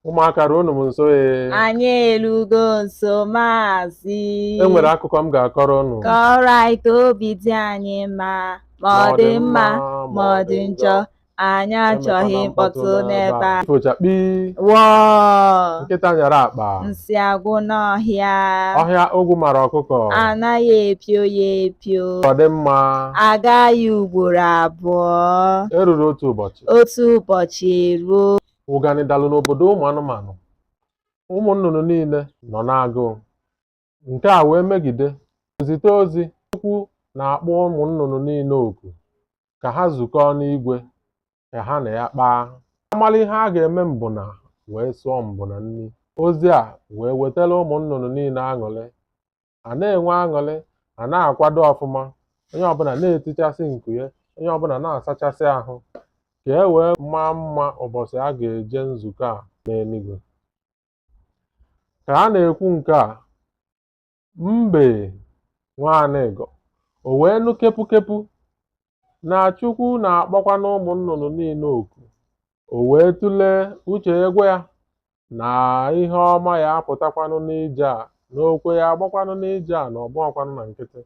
ụmụaka ruonụ m nso ee anyị elugo nso maazị e nwere akụkọ m ga-akọrọ unu kọrọ anyị ka obi dị anyị mma ma ọ dị mma ma ọ dị njọ anyị achọghị mkpọtụ n'ebe a fochakpi wọọ nkịta nyara akpa nsị agwụ n'ọhịa ọhịa ogwu mara ọkụkọ anaghị epio ya epio ọ dị mma agaghị ugboro abụọ eruru otu ụbọchị otu ụbọchị eruo ụganị dalụ n'obodo ụmụ anụmanụ ụmụ nnụnụ niile nọ n'agụụ nke a wee megide e zite ozi Chukwu na-akpọ ụmụ nnụnụ niile oku ka ha zukọọ n'igwe ka ha na ya kpaa a malụ ihe a ga-eme mbụ na wee sụọ mbụ na nri ozi a wee wetara ụmụ nnụnụ niile aṅụrị a na-enwe aṅụrị a na-akwado ọfụma onye ọbụla na-etichasị nku ya onye ọbụla na-asachasị ahụ ka e wee maa mma ụbọchị a ga-eje nzukọ a n'eluigwe ka a na-ekwu nke a mbe nwa anịga wee nụ kepukepu na Chukwu na-akpọkwanụ ụmụ nnụnụ niile oku o wee tụlee uche agwa ya na ihe ọma ya-apụtakwanụ n'ije a n'okwe ya agbakwanụ n'ije a na ọ bụhọkwanụ na nkịtị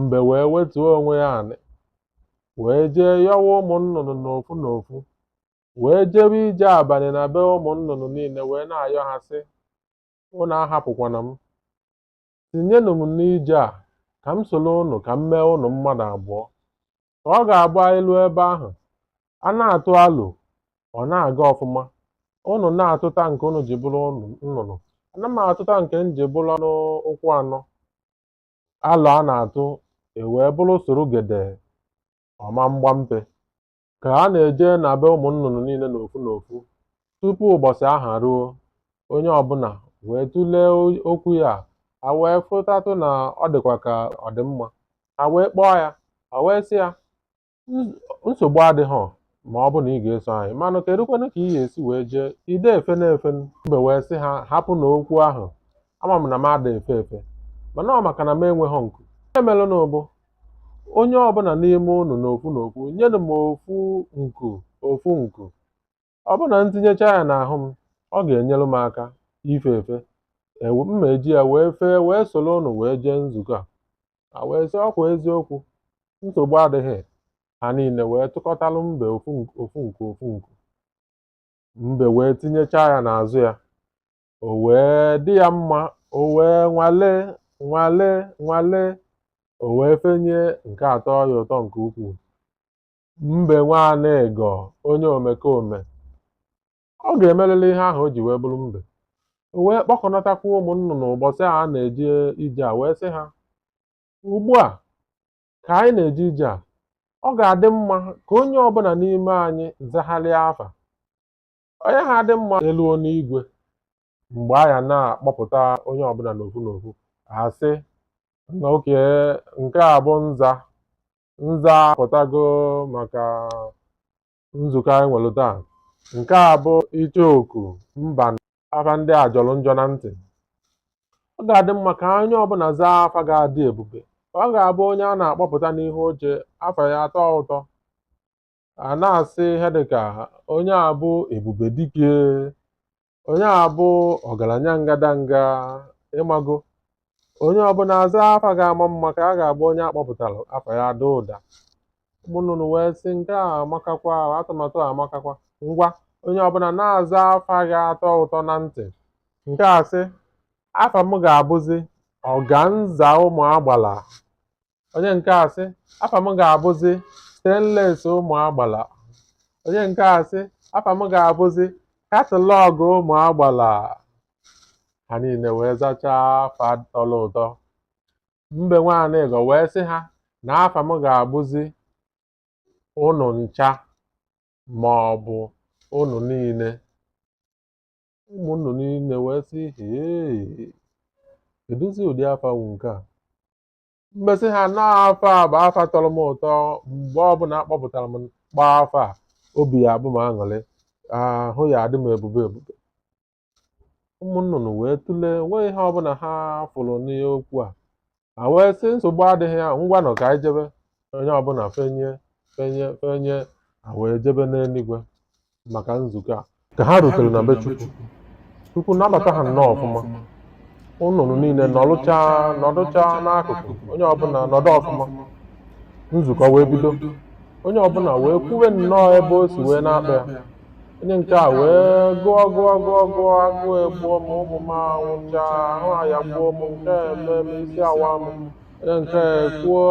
mbe wee wetuo onwe ya anị wee jee yọwa ụmụ nnụnụ n'ofu n'ofu wee jebe ije abalị na be ụmụ nnụnụ niile wee na-ayọ ha sị unu ahapụkwana m Tinyenụ m n'ije a, ka m soro ụnụ ka m mee ụnụ mmadụ abụọ. Ka ọ ga-abụ anyị ruo ebe ahụ, a na-atụ alo, ọ na-aga ọfụma. Ụnụ na-atụta nke ụnụ ji bụrụ nnụnụ, ana m atụta nke m ji bụrụ anụ ụkwụ anọ. Alo a na-atụ ewee bụrụ soro gede ọma mgbampe. ka a na-eje na be ụmụ nnụnụ niile n'ofu n'ofu tupu ụbọchị ahụ ruo onye ọbụla wee tụlee okwu ya ha wee fụtatụ na ọ dịkwa ka ọ dị mma ha wee kpọọ ya ha wee sị ya nsogbu adịghị ma ọ bụ na ị ga-eso anyị manụ kedụkwanụ ka ị ga-esi wee jee ị da efenụ efe mbe wee sị ha hapụnụ okwu ahụ ama m na m ada efe efe mana ọ maka na m enweghị nku ihe merenụ bụ onye ọbụla n'ime unu n'ofu n'ofu nyenụ m ofu nku ofu nku ọ bụrụ na m tinyecha ya n'ahụ m ọ ga-enyere m aka ife efe ewe m ma eji ya wee fee wee soro unu wee jee nzukọ a a wee sị ọ kwa eziokwu nsogbu adịghị ha niile wee tụkọtalụ mbe ofu nku ofu nku ofu nku mbe wee tinyecha ya n'azụ ya o wee dị ya mma o wee nwale nwale nwale o wee fenie nke a tọọ ya ụtọ nke ukwuu mbe nwa anịga onye omekome ọ ga-emerịrị ihe ahụ o ji wee bụrụ mbe o wee kpọkọnatakwa ụmụ nnụnụ ụbọchị a na-eje ije a wee sị ha ugbu a ka anyị na-eje ije a ọ ga-adị mma ka onye ọbụla n'ime anyị zagharịa afa ọ ya-adị mma e luo n'igwe mgbe a ya na-akpọpụta onye ọbụla n'ofu n'ofu a sị okay nke a bụ nza nza pụtago maka nzukọ anyị nwere taa nke a bụ icheoku mba afa ndị a jọrọ njọ na ntị ọ ga-adị mma ka onye ọbụla zaa afa ga-adị ebube ọ ga-abụ onye a na-akpọpụta n'ihu oche afa ya atọ ụtọ a na-asị ihe dịka onye a bụ ebube dike onye a bụ ọgaranya ngadanga ị mago onye ọbụla aza afa ga-ama mma ka ọ ga-abụ onye a kpọpụtara afa ya ada ụda ụmụnnụnụ wee sị nke a amakakwa atụmatụ a amakakwa ngwa onye ọbụla na-aza afa ga-atọ ụtọ na ntị nke a sị afa m ga-abụzi organza ụmụ agbala onye nke a sị afa m ga-abụzi stainless ụmụ agbala onye nke a sị afa m ga-abụzi catalogue ụmụ agbala ha niile wee zachaa afa tọrọ ụtọ mbe nwa anịga wee sị ha na afa m ga-abụzi unu ncha ma ọ bụ unu niile ụmụ nnụnụ niile wee sị hee kedụzi ụdị afa wụ nke a mbe sị ha na afa a bụ afa tọrọ m ụtọ mgbe ọbụla a kpọpụtara m kpọọ afa a obi ya-abụ m aṅụrị ahụ ya-adị m ebube ebube ụmụ nnụnụ wee tụlee nweghị ihe ọbụla ha fụrụ n'okwu a a wee sị nsogbu adịghị ya ngwanụ ka anyị jebe onye ọbụla fenie fenie fenie a wee jebe n'eluigwe maka nzukọ a ka ha rutere na be Chukwu Chukwu nabata ha nnọọ ọfụma nnụnụ niile nọlụcha nọdụcha n'akụkụ onye ọbụla nọdụ ọfụma nzukọ wee bido onye ọbụla wee kwuwe nnọọ ebe o si wee na-akpa ya onye nke a wee gụọ gụọ gụọ gụọ agụụ egbuo m ụmụ m anwụcha ahụ ọya gbuo m nke eme m isi awa m onye nke a kwuo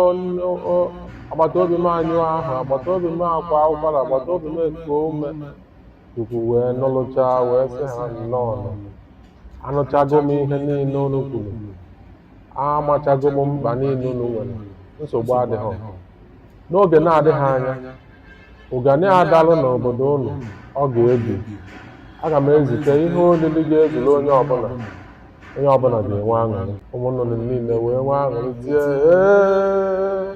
agbata obi m anyụ ahụ agbata obi m akwa ụkwara agbata obi m ekuo ume Chukwu wee nụlụcha wee sị ha nnọọ anụchago m ihe niile unu kwuru amachago m mkpa niile unu nwere nsogbu adịghị N'oge na-adịghị anya, ụganị adalụ n'obodo unu ọ ga-ebi. Aga m ezite ihe olili ga-ezuru onye ọbụla. Onye ọbụla ga-enwe aṅụrị. Ụmụ nnụnụ niile wee nwee aṅụrị tie ee.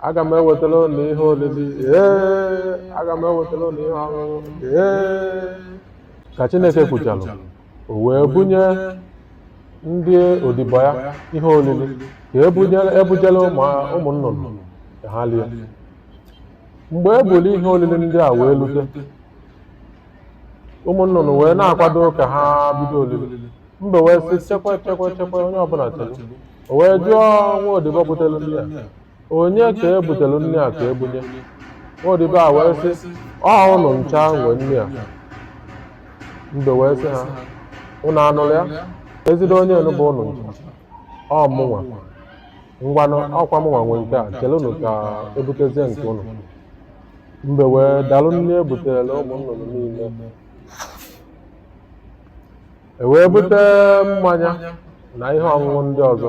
Aga m ewetara unu ihe olili ee. Aga m ewetara unu ihe ọṅụṅụ ee. Ka Chineke kwuchalụ, o wee bunye ndị odibo ya ihe olili ka e bujela ụmụ nnụnụ ka ha lie mgbe e buru ihe olili ndị a wee lute ụmụ nnụnụ wee na-akwado ka ha bido olili mbe wee sị chekwa chekwa chekwa onye ọbụla chekwa o wee jụọ nwa odibo butere nri a onye ka e butere nri a ka e bunye odibo a wee sị ọ unu ncha nwe nri a mbe wee sị ha unu anụrụ ya ezigbo onye bụ unu ncha ọ mụnwa ngwanụ ọkwa mụnwa nwe nke a chelunu ka e butezie nke unu mbe wee dalụ nri e buterela ụmụ nnụnụ niile e wee bute mmanya na ihe ọṅụṅụ ndị ọzọ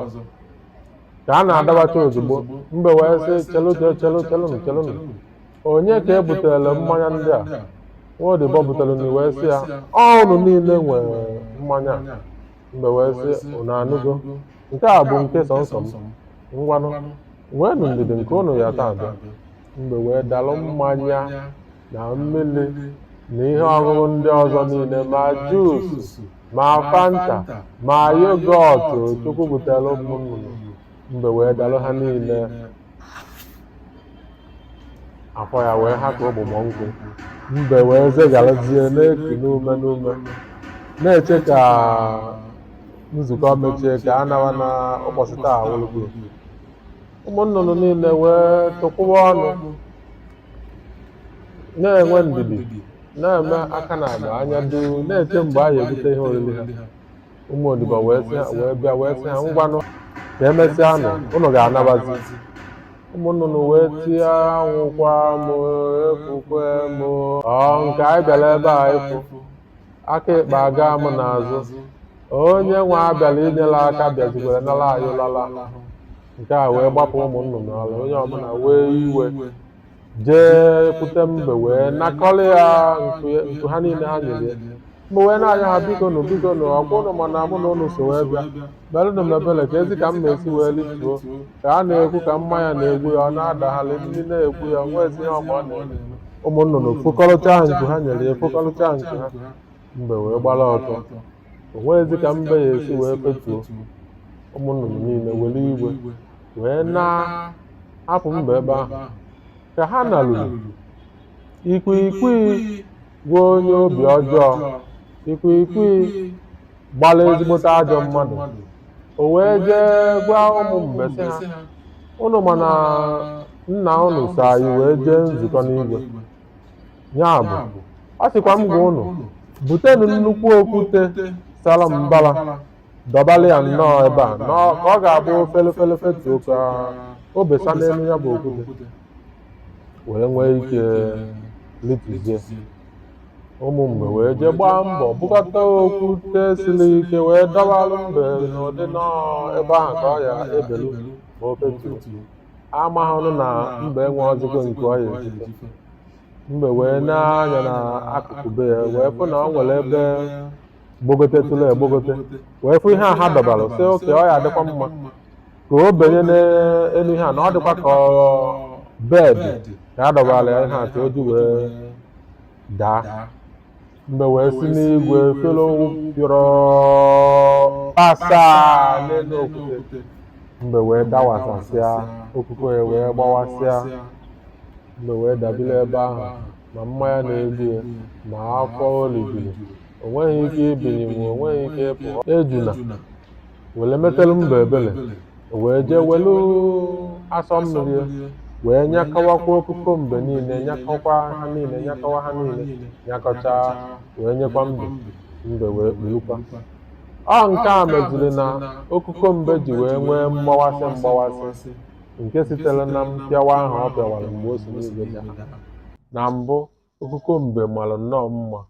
ka a na-adọbacha ozugbo mbe wee sị chelu chelu chelunu chelunu onye ka e butere mmanya ndị a nwa odibo butere nri wee sị ya ọ unu niile nwe mmanya mbe wee sị unu anụgo nke a bụ nke sọnsọ m ngwanụ nweenụ ndidi nke unu ya taa abịa mbe wee dalụ mmanya na mmiri na ihe ọṅụṅụ ndị ọzọ niile ma juus ma fanta ma yogọt chukwu butere ụmụ nnụnụ mbe wee dalụ ha niile afọ ya wee ha ka ụgbụgbọ nkwụ mbe wee zegarazie na-eku n'ume n'ume na-eche ka nzukọ mechie ka a nawa na ụbọchị taa wụlụgo ụmụ nnụnụ niile wee tụkwụwa ọnụ na-enwe ndidi na-eme aka n'agba anya duu na-eche mgbe a ga-ebute ihe oriri ha ụmụ odibo wee sị ha- wee bịa wee sị ha ngwanụ ka emesịa nụ unu ga-anabazi ụmụ nnụnụ wee tie anwụkwaa m efukwee m o nke anyị bịara ebe a ịfụ aka ịkpa aga m n'azụ onye nwa a bịalụ e nyere aka bịazikwara nara anyị lala nke a wee gbapụ ụmụ nnụnụ ala onye ọbụla wee iwe jee kwute mbe wee nakọrọ ya nku ya- nku ha niile ha nyere ya mbe wee na-ayọ ha biko nụ biko nụ ọkwa unu ma na mụ na unu so wee bịa melunu m ebele kezi ka m ga-esi wee lituo ka ọ na-ekwu ka mmanya na-egbu ya ọ na-adagharị nri na-egbu ya nwezi ihe ọ ma ọ na-eme ụmụ nnụnụ fokọrọcha nku ha nyere ya fokọrọcha nku ha Mbe wee gbara ọtọ. O nweghịzi ka mbe ya esi wee fetuo. Ụmụ nnụnụ niile were iwe wee naa hapụ mbe ebe ahụ. Ka ha naruru, ikwiikwii gwa onye obi ọjọọ, ikwiikwii gbara ezigbote ajọ mmadụ. O wee jee gwa ụmụ mbe sị ha, Unu ma na nna unu so anyị wee jee nzukọ n'igwe. ya bụ a sịkwa m gwa ụnụ butenụ nnukwu okwute sara mbara dọbalụ ya nnọọ ebe a na ọ- ka ọ ga-abụ o fele fele fetuo ka o besa n'elu ya bụ okwute were nwee ike litizie ụmụ mbe wee jee gbaa mbọ bukọta okwute siri ike wee dọbalụ mbe n'ụdị nnọọ ebe ahụ ka ọ ya ebelu ma o fetuo amaghị nụ na mbe enweghịzi nku ọ ya eji fe mbe wee nee anya na akụkụ be ya wee fụ na ọ nwere ebe gbogotetụrụ egbogote wee fụ ihe a ha dọbara sị oke ọ ya adịkwa mma ka o benye n'elu ihe a na ọ dịkwa ka bed ka a dọbara ya ihe a ka o ji wee daa mbe wee si n'igwe fere pịọrọ pịasaa n'elu okwute mbe wee dawasasịa okuko ya wee gbawasịa mbe wee dabiri ebe ahụ ma mmanya na-egbu ya ma afọ o rijuru o nweghị ike ibinyenwu o nweghị ike ịpụ ejuna were metelu mbe ebele o wee jee welu asọ mmiri ya wee nyakọwakwa okuko mbe niile nyakọkwa ha niile nyakọwa ha niile nyakọcha wee nyekwa mbe mbe wee kpurukwa ọ nke a meziri na okuko mbe ji wee nwee mgbawasị mgbawasị nke sitere na mpịawa ahụ ọ pịawara mgbe o si n'igwe daa na mbụ okuko mbe mara nnọọ mma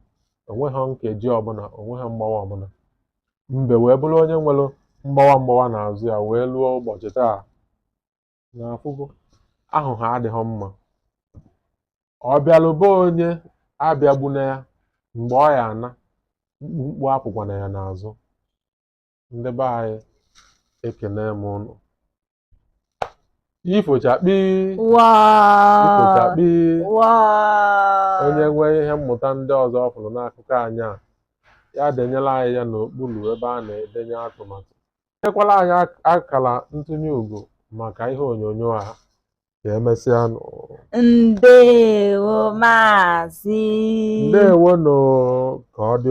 onweghị nkeji ọbụla onweghị mgbawa ọbụla Mbe wee bụrụ onye nwere mgbawa mgbawa n'azụ ya wee luo ụbọchị taa na afụgo aghụghọ adịghị mma ọ bịalụ be onye abịagbuna ya mgbe ọ ya ana mkpumkpu apụkwana ya n'azụ ndị be anyị ekene m ụnụ ifochakpi ifochakpi onye nwee ihe mmụta ndị ọzọ ọ fụrụ n'akụkọ anyị a ya denyelu anyị ya n'okpuru ebe a na-edenye atụmatụ nyekwalu anyị akara ntụnye ugo maka ihe onyonyo a ka emesịa ndewo maazị ndewo nụ ka ọ dị